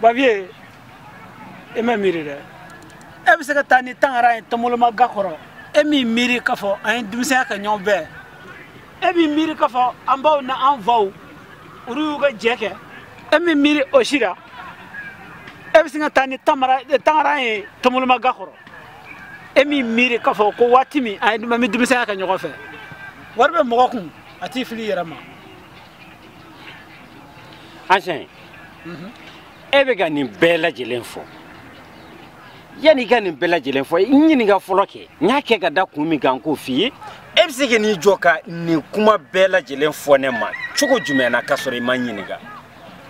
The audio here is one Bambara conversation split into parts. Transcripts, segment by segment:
Bavieux e ma miiri dɛ e bɛ se ka taa ni tangara ye tɔnboloma ga kɔrɔ e m'i miiri k'a fɔ an ye denmisɛnya kɛ ɲɔgɔn fɛ e m'i miiri k'a fɔ an baw na an faw olu y'u ka jɛ kɛ e m'i miiri o si la e bɛ se ka taa ni tangara ye tɔnboloma ga kɔrɔ e m'i miiri k'a fɔ ko waati min an kun bi denmisɛnya kɛ ɲɔgɔn fɛ wari bɛ mɔgɔ kun a t'i fili yɛrɛ ma ancien mhm. e bɛ ka nin bɛɛ lajɛlen fɔ yanni i ka nin bɛɛ lajɛlen fɔ n ɲininka fɔlɔ kɛ n y'a kɛ ka da kun min kan k'o f'i ye e bɛ se ka n'i jɔ ka nin kuma bɛɛ lajɛlen fɔ ne ma cogo jumɛn na k'a sɔrɔ i ma ɲininka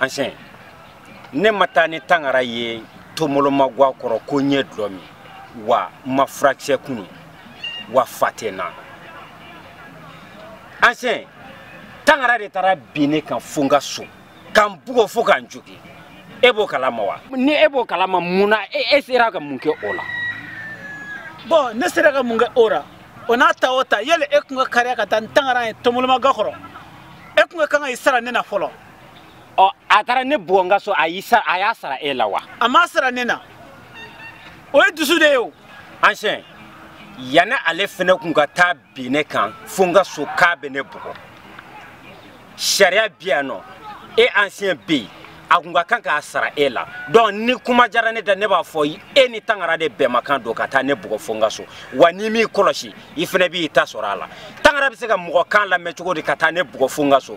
ancien ne ma taa ni tangara ye tɔnboloma gwa kɔrɔ ko n ye dulɔ min wa n ma furakisɛ kunu wa fa tɛ n na ancien tangara de taara bin ne kan fo n ka so ka n bugɔ fo ka n jogin e b'o kalama wa ni e b'o kalama mun na e, e sera ka mun kɛ o la bon ne sera ka mun kɛ o la o n'a ta o ta yanni e kun ka kaliya ka taa ni tangara ye tɔnboloma ga kɔrɔ e kun ka kan ka i sara ne na fɔlɔ ɔ a taara ne bugɔ n ka so a y'a sara e la wa a m'a sara ne na o ye dusu de ye o ancien yanni ale fɛnɛ kun ka taa bin ne kan fo n ka so k'a bɛ ne bugɔ sariya bi yan nɔ e ancien bɛ yen a kun ka kan k'a sara e la donc ni kuma jara ne da ne b'a fɔ e ni tangara de bɛnmakan don ka taa ne bugɔ fo n ka so wa n'i m'i kɔlɔsi i fɛnɛ b'i ta sɔrɔ a la tangara bɛ se ka mɔgɔ kan lamɛn cogo di ka taa ne bugɔ fo n ka so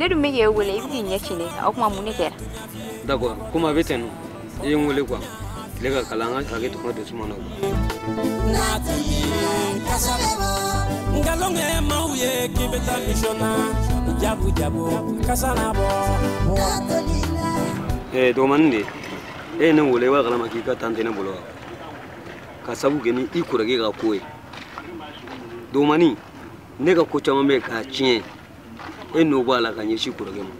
ne dun bɛ k'e wele i bɛ k'i ɲɛ ci ne kan o tuma mun de kɛra d'accord komi a bɛ ten nɔ i ye n wele quoi tile ka kalan an ka hakɛ to kuma don suma na nkalonge maaw ye k'i bɛ taa mission na jabu jabu kasa na bɔ eh, dɔgɔmanin de e ye ne wele i b'a kalama k'i ka tan tɛ ne bolo wa ka sabu kɛ ni i kɔrɔkɛ ka ko ye dɔgɔmanin ne ka ko caman bɛ k'a tiɲɛ e nɔ b'a la ka ɲɛsin kɔrɔkɛ ma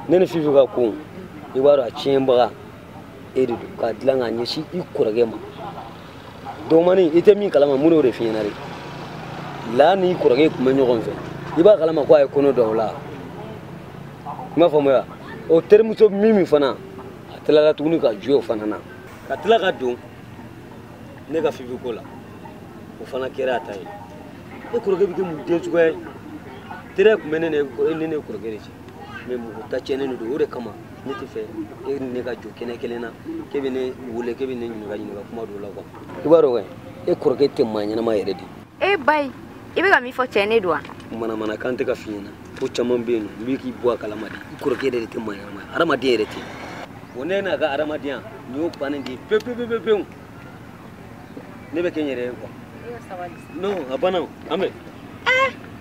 ne ni fifi ka ko i b'a dɔn a tiɲɛbaga e de don k'a dilan k'a ɲɛsin i kɔrɔkɛ ma dɔgɔmanin i tɛ min kalama n y'o de f'i ɲɛna de la n'i kɔrɔkɛ tun bɛ ɲɔgɔn fɛ i b'a kalama ko a ye kɔnɔ da o la i m'a faamuya o terimuso min min fana a tilala tuguni ka juyɛ o fana na ka tila ka don ne ka fifi ko la o fana kɛra a ta ye e kɔrɔkɛ bɛ kɛ mun den suguya ye tere tun bɛ ne ni e kɔrɔkɛ de cɛ mais mɔgɔ ta tiɲɛnen de don o de kama ne t'a fɛ e ni ne ka jɔ kɛnɛ kelen na k'e bɛ ne wele k'e bɛ ne ɲininka ɲininka kuma dɔw la quoi i b'a dɔn kɛ e kɔrɔkɛ tɛ maa ɲɛnama yɛrɛ de e bayi i bɛ ka min fɔ tiɲɛ de don wa manamanakan tɛ ka f'i ɲɛna ko caman bɛ yen nɔ n bɛ k'i bɔ a kalama de i kɔrɔkɛ yɛrɛ de tɛ maa ɲɛnama ye hadamaden yɛrɛ tɛ bon ne n'a ka hadamadenya nin y'o bannen de ye pewu pewu pewu pewu ne bɛ kɛ n yɛrɛ ye quoi non a banna an bɛ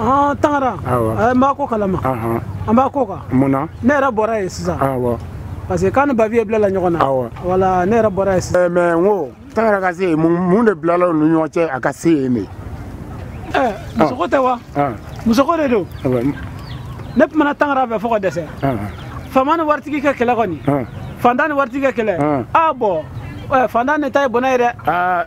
Ah, tangara eh, n b'a ko kalama an b'a ko kan mun na ne yɛrɛ bɔra yen sisan parce que k'a ni babi ye bilala ɲɔgɔn na voilà ne yɛrɛ bɔra yen sisan eh, mais n ko tangara ka se yen mun de bilala u ni ɲɔgɔn cɛ a ka se yen de eh, musoko ah. tɛ wa ah. musoko de don ne kumana tangara fɛ fo ka dɛsɛ faama ni waritigi ka kɛlɛ kɔni fantan ni waritigi ka kɛlɛ ah bon fantan de ta ye bɔnɛ ye dɛ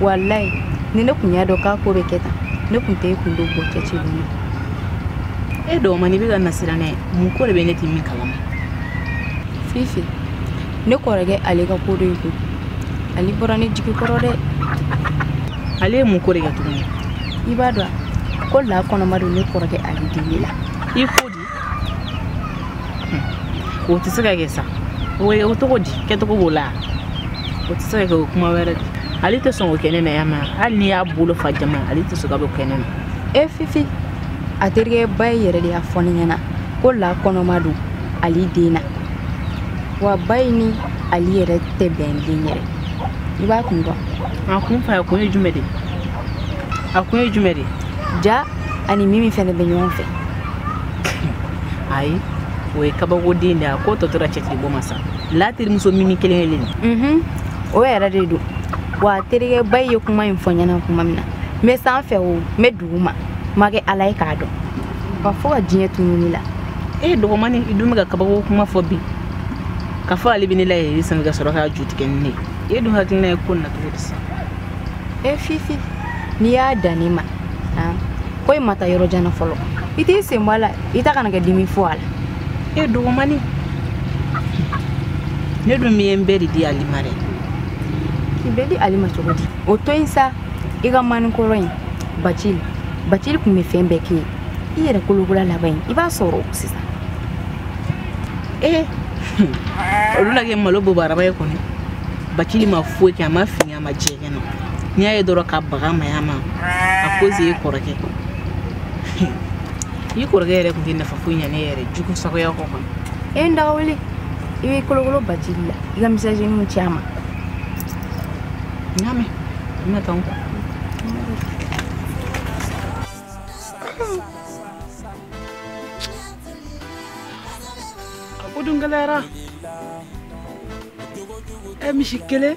walayi ni ne tun y'a dɔn k'a ko bɛ kɛ tan ne tun tɛ e kun don bɔ cɛ ci dun e dɔgɔmani bɛ ka n lasiran dɛ mun ko de bɛ ne tɛ min kalama fifi ne kɔrɔkɛ ali ka ko dɔ ye koyi ale bɔra ne jigi kɔrɔ dɛ ale ye mun ko de kɛ tuguni i b'a dɔn ko la kɔnɔma don ne kɔrɔkɛ ali den na i ko o tɛ se ka kɛ sa o ye o cogo di kɛcogo b'o la o tɛ se ka kɛ o kuma wɛrɛ de ali tɛ sɔn k'o kɛ ne na jamais hali n'i y'a bolo fa jamais ali tɛ sɔn ka b'o kɛ ne na e fifi a terikɛ bayi yɛrɛ de y'a fɔ ne ɲɛna ko la kɔnɔma don ali den na wa bayi ni ali yɛrɛ tɛ bɛn den yɛrɛ i b'a kun dɔn a kun fɔ a kun ye jumɛn de a kun ye jumɛn de ja a ni mimi fɛnɛ bɛ ɲɔgɔn fɛ ayi o ye kabakoden de a ko tɔ tora cɛtigi bɔ ma sa la terimuso mimi kelen kelen mhm. o yɛrɛ de don wa terikɛ bayi ye kuma in fɔ n ɲɛna kuma min na n bɛ san fɛ o n bɛ dugu ma n ma kɛ ala ye k'a dɔn wa fo ka diɲɛ tunun ne la e dɔgɔmani i dun bɛ ka kabako kuma fɔ bi ka fɔ ali bɛ ne layɛlɛ sanfɛ ka sɔrɔ k'a ju tigɛ ni ne ye e dun hakilina ye ko na cogo di sa e fifi n'i y'a dan ne ma ko i ma taa yɔrɔ jan na fɔlɔ i t'i sen bɔ a la i ta kana kɛ dimi fo a la e dɔgɔmani ne dun ye n bɛɛ de di ali ma dɛ k'i bɛɛ di ali ma cogo di o to in sa i kamalenkɔrɔ in bacili bacili tun bɛ fɛn bɛɛ k'i ye i yɛrɛ kolokura laban in i b'a sɔrɔ sisan ee olu na kɛ malo bobaraba ye kɔni bacili ma foyi kɛ a ma fin a ma jɛ n'i y'a ye dɔrɔn ka baga maya ma a koze ye kɔrɔkɛ i kɔrɔkɛ yɛrɛ tun tɛ nafa foyi ɲa ne yɛrɛ jugu sagoya kɔ kan e n daga wuli i bɛ kolokolo bacili la i ka misɛnninw ci a ma n y'a mɛn n bɛna taa n kɔ a ko dun gɛlɛyara ɛ misi kelen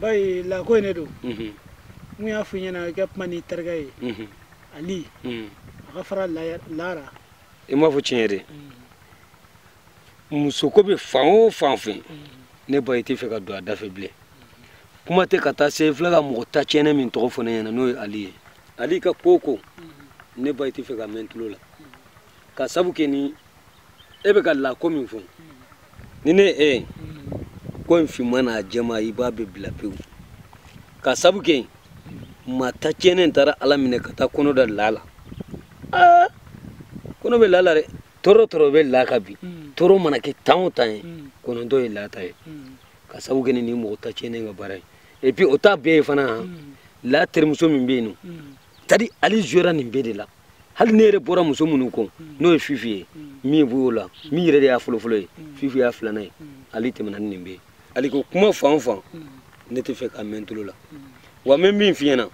bayi la ko ye ne don n kun y'a fɔ i ɲɛna i ka kuma n'i terikɛ ye ali a ka fara la ra i m'a fɔ tiɲɛ de musoko bɛ fan o fan fɛ ne bayi tɛ fɛ ka don a da fɛ bilen kuma tɛ ka taa se fo e ka mɔgɔ ta tiɲɛnen min tɔgɔ fɔ ne ɲɛna n'o ye ali ye ali ka ko ko ne bayi tɛ fɛ ka mɛn tulo la ka sabu kɛ ni e bɛ ka la ko min fɔ ni ne e ye ko in finma n'a jɛma i b'a bɛɛ bila pewu ka sabu kɛ maa ta tiɲɛnen taara la minɛ ka taa kɔnɔ da la la aa kɔnɔ bɛ la la dɛ tɔɔrɔ tɔɔrɔ bɛ la kan bi mm. tɔɔrɔ mana kɛ tan o tan ye mm. kɔnɔntɔn ye la ta ye mm. ka sabu kɛ ni nin mɔgɔ ta tiɲɛnen ka baara ye et puis o ta bɛɛ ye fana hmm. la terimuso min bɛ yen n'o tadi ali jɔra nin bɛɛ de la hali ne yɛrɛ bɔra muso minnu kɔ n'o ye fifi ye min b'o la min yɛrɛ de y'a fɔlɔfɔlɔ ye fifi y'a filanan ye ali tɛmɛna ni nin bɛɛ ye ali ko kuma fan o fan ne tɛ fɛ ka mɛn tulo la wa n bɛ min f'i ɲɛna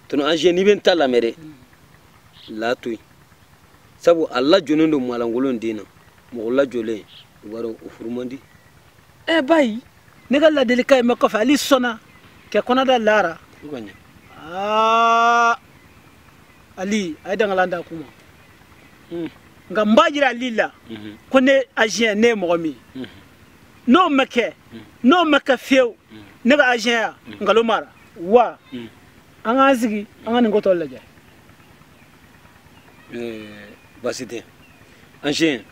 tɔnɔ ancien n'i bɛ n ta lamɛn dɛ la to yen sabu a lajɔlen don maalankolon den na mɔgɔ lajɔlen i b'a dɔn o furu man di ɛ eh, bayi ne ka ladilikan i ma kɔfɛ ali sɔnna kɛ kɔnɔ da la ra aa ali a ye dangalan da kuma hmm. nka n b'a jira ali la mhm. ko ne ancien ne ye mɔgɔ min mhm. n'o ma kɛ mhm. n'o ma kɛ fiyewu ne ka ancienya nkalon mara wa an k'an sigi an ka nin ko tɔ lajɛ eh, basi tɛ ancien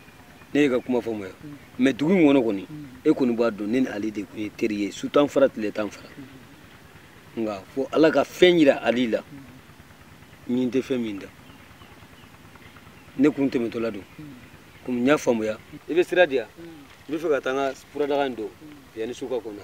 ne y'e ka kuma faamuya mɛ dugu in kɔnɔ kɔni e kɔni b'a dɔn ne ni ali de tun ye teri ye su tan fara tile tan fara nka fo ala ka fɛn yira ali la min tɛ fɛn min da ne kun tɛmɛtɔla don komi n y'a faamuya i bɛ sira di yan n bɛ fɛ ka taa n ka furadaga in don yanni su ka ko n na